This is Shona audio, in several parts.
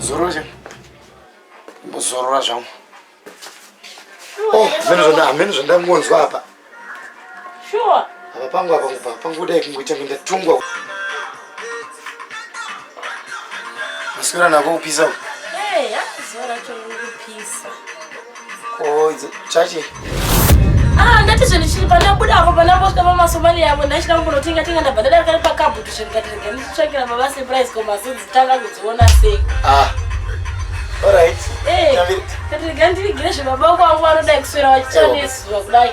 Zorora, zorora zvangu. Oh, mimi ndo ndamwe, mimi ndo ndamwe hapa. Sure. Hapa pangu hapa pangu dai kungoita minda tungwa. Masikira nako kupisa uko. Hey, akuzora chokupisa. Oh, chachi. Ah, ndati zvinhu chiri pandabuda apo pandambosvika pamasomali yavo ndachida kumbonotenga tenga ndabva ndadari kari pakabutu zvinhu katirega ndichitsvakira baba surprise ko mazinzi tanga kudziona sei. Ah. All right. Hey. Eh, katirega ndirigire zvebaba kwangu vanoda kuswera vachichanezuva kudai.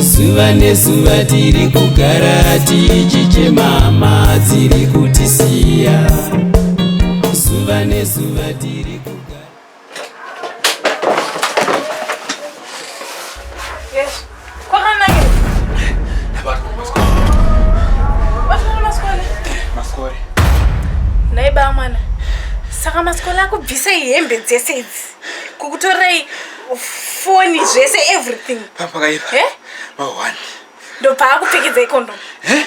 zuva nezuva tiri kugara tichichema hama dziri kutisiya zuva nezuva tiri kugara Yes. Kwakanakira. Wafanana masikole. Masikore. Nhai bamwana. Saka masikole akubvisei hembe dzese idzi? kukutorei foni zvese everything pakaipa eh? mahwani ndobva akupfekedza ikondomu eh?